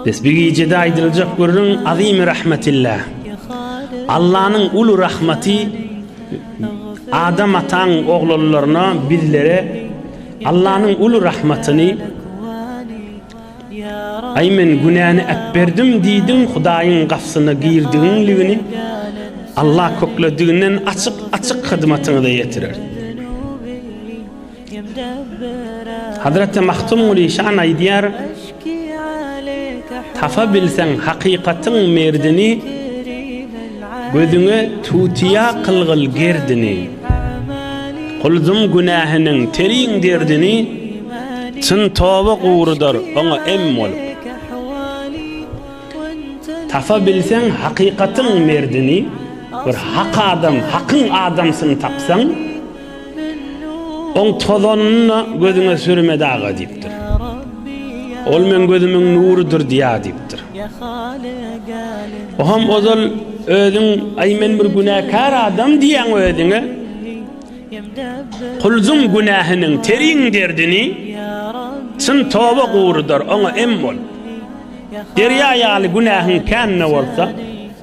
Biz bir gijede aýdyljak gürrüň Azimi rahmetilla. Allanyň uly rahmeti Adam ataň oglanlaryna bizlere Allanyň uly rahmatyny Ay men günäni äpberdim diýdim Hudaýyň gapsyna girdigiňligini Allah köklediginden açyk açyk hyzmatyňyza ýetirer. Hazreti Mahtumguly şan aýdýar, Tapa bilseň hakykatyň merdini, Gözüňe tutýa kylgyl gerdini. Guldum günähiniň terin derdini, Çyn toba gurudar oňa em bolup. Tapa bilseň hakykatyň merdini, Bir hak adam, hakyň adamsyny tapsaň, Oň tozanyny da gözüňe sürme daga diýipdir. Ol meň gözümiň nurydyr diýýär diýipdir. Oňam ozal özüň Aý men bir günäkär adam diýýäň özüňe. Kulzuň günähiniň teriň derdini çyn toba gurudar oňa em bol. Derýa ýaly günähiň kän-de bolsa,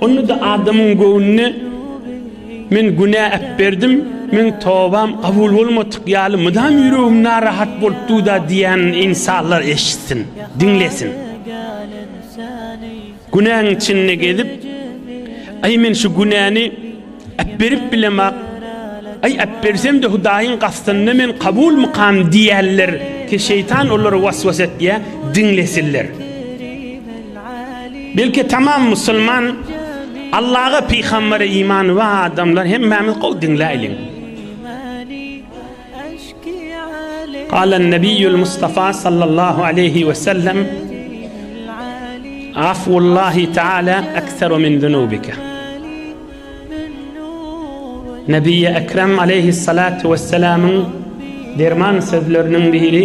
Onda-da adamyň göwnüne Men günä äpberdim, meň tobam kabul bolmadyk ýaly mydam ýüregim narahat bolup dur-da diýýänini ynsanlar eşitsin, diňlesin. Günäň içinde gezip, Aý, men şu günäni äpberip bilemok, aý, äpbersem-de Hudaýyň gastynda men kabulmykam diýýänler, şeýtan olary was-was etýär, diňlesinler. Belki tamam musulman Allaha pygambere imany bar adamlar hemmämiz gowy diňläýliň. Galan Nebiýül Mustafa sallallahu aleýhi we sellem Afullahi taala ekseru min zunubika. Nebiýi Ekrem aleyhissalatu vesselamyň derman sözleriniň biri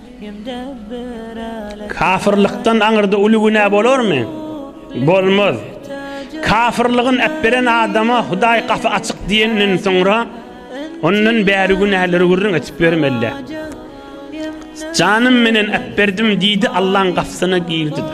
Kafyrlykdan aňyrda uly günä bolarmy? Bolmaz. Kafyrlygyny äpberen adama Hudaý gapy açyk diýenden soňra, ondan bäri günäleri gürrüň edip bermeli-dä. Janym menen äpberdim diýdi, Allaň gapysyna girdi-de.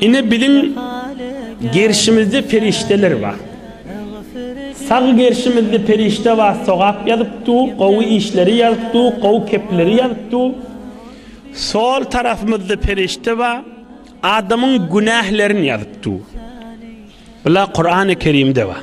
Ine biziň gerşimizde perişdeler bar. Sag gerşimizde perişde bar sogap ýazyp dur, gowy işleri ýazyp dur, gowy kepleri ýazyp dur. Sol tarapymyzda perişde bar, adamyň günählerini ýazyp dur. Bular Kurany Kerimde bar.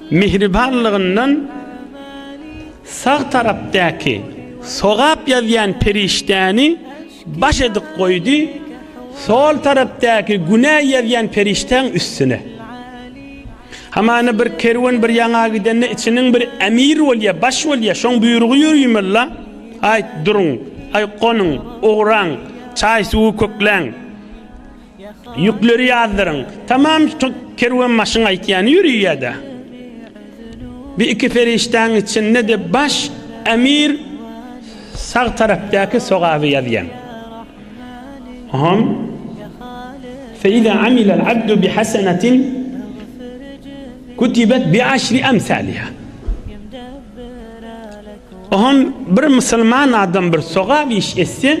Mähribanlygyndan sag tarapdaky sogap ýazýan perişdäni baş edip goýdy, sol tarapdaky günä ýazýan perişdäň üstüne. Hamana bir kerwen bir ýaňa gidende içiniň bir emir bolýa, baş bolýa, şoň buýrugy ýörüýmella, Aýt, duruň, aý, gonuň, ugraň, çaý-suwy kökläň. Ýükleri ýazdyryň. Tamam kerwenbaşyň aýtýany ýörýär-dä. Bi iki perişdäň içinde-de baş emir sag tarapdaky sogaby ýazýan. Hom. Feýza amilal abdu bi hasenetin kutibet bi aşri emsaliha. Hom bir musulman adam bir sogap iş etse,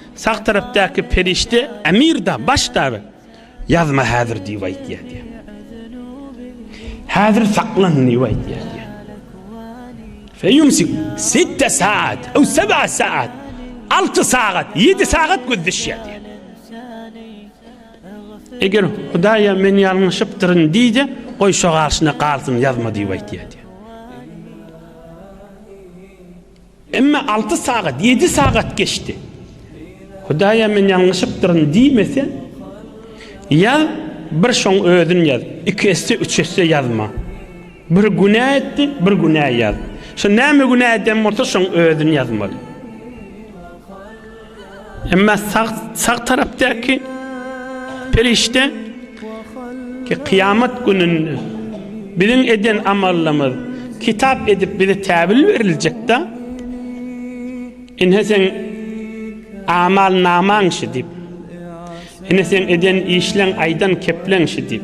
Sag tarapdaky perişde Emir-da, baş dagy, Ýazma häzir diýip aýtýar diýýär. Häzir saklan diýip aýtýar diýýär. Feýumsik sitte saat, ew seb'a saat. Alty sagat, ýedi sagat gözleşýär diýýär. Eger Hudaýa men ýalňyşypdyryn diýse, goý şo garşyna galsyn, ýazma diýip aýtýar diýýär. Emma alty sagat, ýedi sagat geçdi. Hudaýa men ýalňyşypdyryn diýmese, ýaz, bir şoň özün ýaz. Iki esse, üç esse ýazma. Bir günä etdi, bir günä ýaz. Şo näme günä eden bolsa, şoň özün ýazmaly. Emma sag sag tarapdaky perişde ki kıyamet gününde biziň eden amallymyz kitap edip bize täbil beriljekde ine sen amal naman şu dip ine sen eden işlen aydan keplen şu dip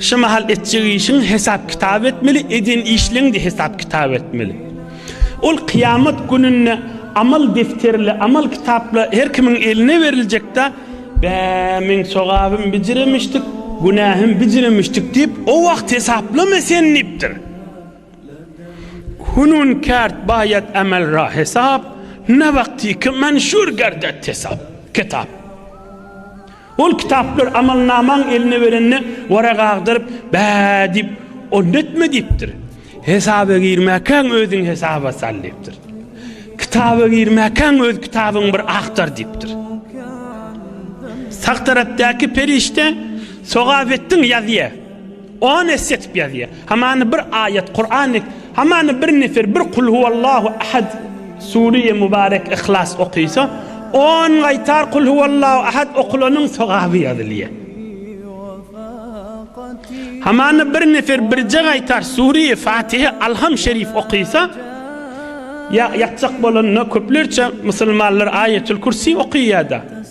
Şu mahal etjek işiň hesap-kitap etmeli, eden işleň-de hesap-kitap etmeli. Ol kyýamat gününde amal defterle, amal kitapla her kimiň eline beriljek-de, Bä, meň sogabym bijire müştik, günähim bijire müştik diýip, o wagt hesaplama sen diýipdir. Hünün kärd baýat emel ra hesap, ne wagtyky menşur gerdet hesap, kitap. Ol kitaplary amalnamaň eline berende Wara gagdyryp, Bä diýip, onda etme diýipdir. Hesaba girmäkäň özüňi hesaba sal diýipdir. Kitaba girmäkäň öz kitabyňy bir agtar diýipdir. Sag tarapdaky perişde Sogabetdin ýazýar. On esse etip ýazýa. Hamany bir aýat, Kuran, hamany bir nefer bir Kul huwallahu ahad, Sure-i Mubarek, Ihlas okysa, on gaýtar Kul huwallahu ahad okulanyň sogaby ýazylýa. Hamany bir nefer birje gaýtar Sure-i Fatihe, Alham şerif okysa, ýa ýakjak bolanda köplerçe musulmanlar Aýetul Kürsi okýada.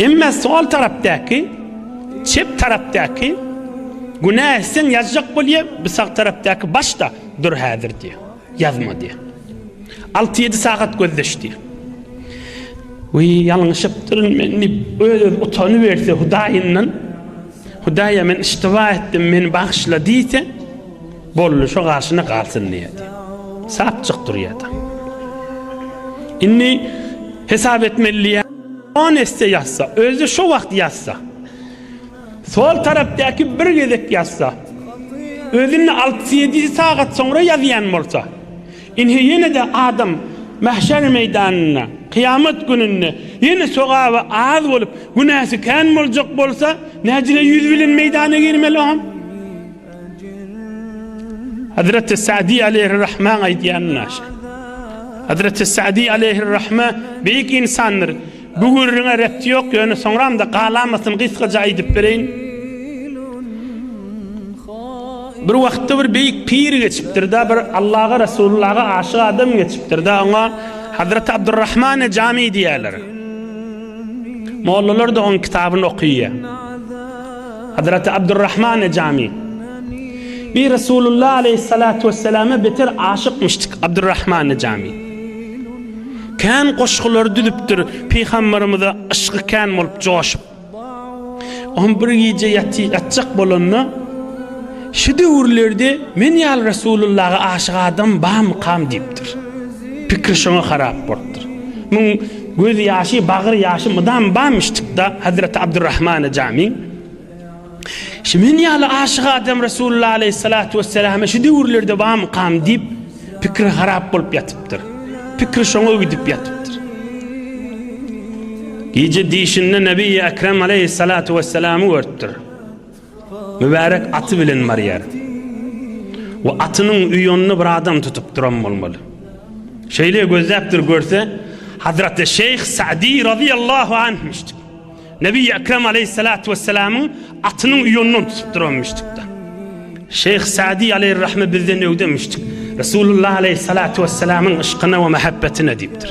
Emma sol tarapdaky, çep tarapdaky, günä etseň ýazjak bolýa, bu sag tarapdaky başda dur häzir diýýär. Ýazma diýýär. Alty-ýedi sagat gözleş diýýär. Wiý, ýalňyşypdyryn men diýip, öz-özüne utanyberse Hudaýyndan, Hudaý-a men yştyba etdim, meni bagyşla diýse, Boldy şo garşyna galsyn diýýärdi. Sapjyk durýardy. Indi hesap etmeli diýýär. On esse ýazsa, özi şo wagt ýazsa. Sol tarapdaky bir gezek ýazsa. Özünde 6-7 sagat soňra ýazýan bolsa. Indi ýene-de adam mahşer meýdanynda, kyýamat gününde ýene sogaby az bolup, günäsi kän boljak bolsa, nädile ýüz bilen meýdana girmeli o? Hazreti Sa'di aleyhir rahman aýdýan naşe. Hazreti Sa'di aleyhir rahma beýik insandyr. Bu gürrüňe repti ýok, ýöne soňram-da galamasyny gysgaja aýdyp bereýin. Bir wagtda bir beýik pir geçipdir-de, bir Allaga, Resulullaga aşyk adam geçipdir-de, oňa Hazreti Abdurrahmane Jami diýýärler. Mollalar-da oň kitabyny okyýar. Hazraty Abdurrahman Ejami. Bi Resulullah aleýhissalatu wesselama beter aşykmyşdyk Abdurrahman Ejami. Kän goşgulary düzüpdir Pygamberimize yşgy kän bolup joşup. Oňa bir gije ýaty ýatjak bolanda Şu döwürlerde men ýaly Resulullaha aşyk adam bamy kam diýipdir. Pikri şoňa harap bolupdyr. Muň Göz ýaşy, bagyr ýaşy mydam bamyşdykda Hazreti Abdurrahmana Jami, Şu men ýaly aşyk adam Resulullah aleýhissalatu wesselama şu döwürlerde bamykam diýip, pikri harap bolup ýatypdyr. Pikri şoňa gidip ýatypdyr. Gije dişinde Nebi Ekrem aleýhissalatu wesselamy görüpdir. Mübärek aty bilen barýar we atynyň uýunda bir adam tutup duran bolmaly. Şeýle gözläpdir görse, Hazraty Şeýh Sa'dy razyýallahu anhmyşdyk. Nebi Ekrem aleýhissalatu wessalamyň atynyň uýundan tutup duranmyşdykda. Şeýh Sa'dy aleýhirrahme bizden öwdemyşdyk. Resulullah aleýhissalatu wessalamyň yşkyna we mähebbetine diýipdir.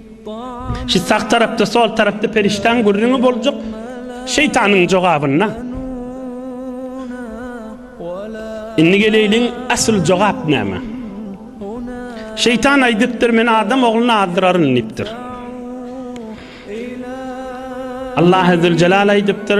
Şu sag tarapda, sol tarapda perişdäň gürrüňi boljak, şeýtanyň jogabyna. Indi geleýliň, asyl jogap näme? Şeýtan aýdypdyr, Men adam ogluny azdyraryn diýipdir. Allah Azzyljelal aýdypdyr,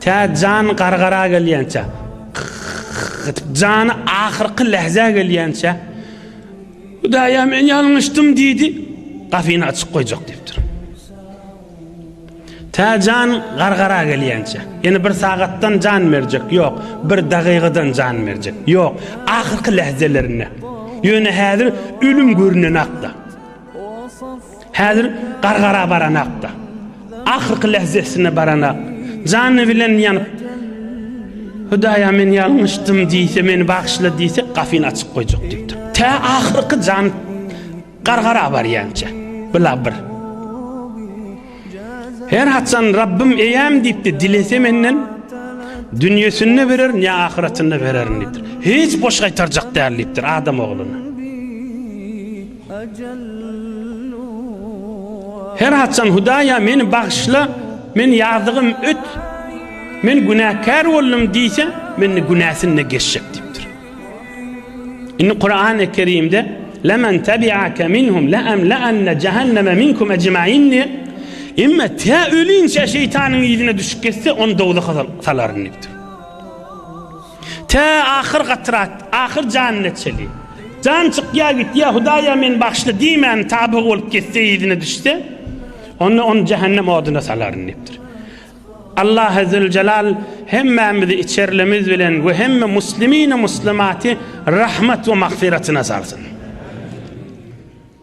Tä jan gargara gelýänçä, gyt-gyt-gyt-gyt, jany ahyrky lähzä gelýänçä, Hudaý-a, men ýalňyşdym diýdi, gapyny açyk goýjak diýipdir. Tä jan gargara gelýänçä, ýene bir sagatdan jan berjek, ýok, bir dagygadan jan berjek, ýok, ahyrky lähzelerinde, ýöne häzir ölüm görünenak-da. Häzir gargara baranakda, ahyrky lehzesine baranak, jany bilen ýanyp, Hudaýa men ýalňyşdym diýse, meni bagyşla diýse, gafyny açyp goýjak diýipdir. Tä ahyrky jan gargara barýança, bila bir. Her haçan Rabbim eýäm diýipdi, dilese menden dünýesinde bererin ýa ahyretinde bererin diýipdir. Hiç boş gaýtarjak däl diýipdir adam ogluny. Her haçan Hudaýa meni bagyşla, men ýazygym öt, men günäkär boldum diýse, mende günäsinde geçjek diýipdir. Indi Kurany Kerimde Lemen tebi'ake minhum le emle'enne cehenneme minkum ecmain diýip, Emme tä ölinçe şeýtanyň yzyna düşüp geçse, ony dowzaha salaryn diýipdir. Tä ahyr gatrat, ahyr janyna çeli. Jan çykýa gitýä, Hudaýa meni bagyşla diýmän tabygy bolup gitse, yzyna düşse, onda ony jähennem oduna salaryn diýipdir. Allahy Züljelal hemmämizi içerlimiz bilen we hemme muslimini muslimaty rahmat we magfyratyna salsyn.